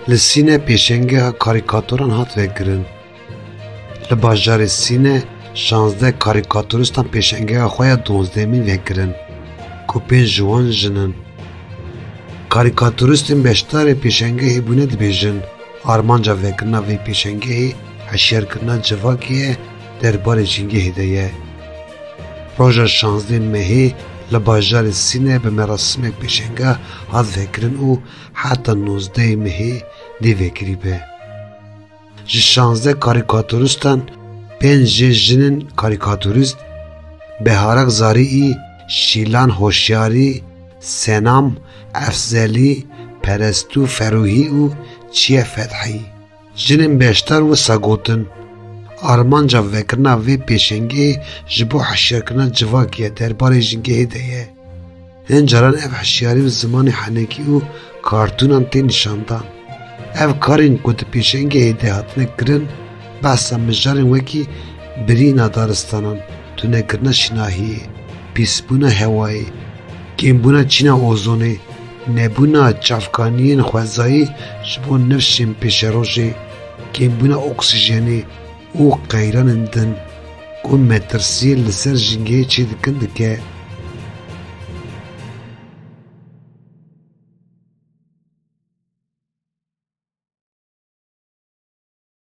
Li Sîne pêşengeha karîkaturan hat vekirin. Li bajarê Sîne şazdeh karîkaturistan pêşengeha xwe ya dozdehemîn vekirin ku pênc ji wan jin in. Karîkaturistên beşdarê pêşengehê bûne dibêjin armanca vekirina vê pêşengehê hişyarkirina civakê ye der barê Cîngehê de ye. Roja şazdeh Mehê li bajarê Sîne bi merasimek pêşenge hat vekirin û heta nozdeh Mehê dê vekirî be. Ji şazdeh karîkaturistan pênc jê jin in karîkaturîst, Beharek Zariî, Şîlan Hoşyarî, Senam, Efzelî, Perestû Ferûhî û Çiye Fethî. Jinên beşdar wisa gotin, Armanca vekirina vê pêşengê ji bo hişyarkirina civakê ye derbarê jingehê de ye. Hin caran ev hişyarî bi zimanê henekî û kartûnan tê nîşandan. Ev karên ku di pêşengehê de hatine kirin behsa mijarên wekî birîna daristanan, tunekirina şinahiyê, pîsbûna hewayê, kêmbûna çîna ozonê, Nebûna çavkaniyên xwezayî ji bo nirşên pêşerojê, kêmbûna oksîjenê û qeyranên din ku metirsiyê li ser jîngehê çê dikin dike.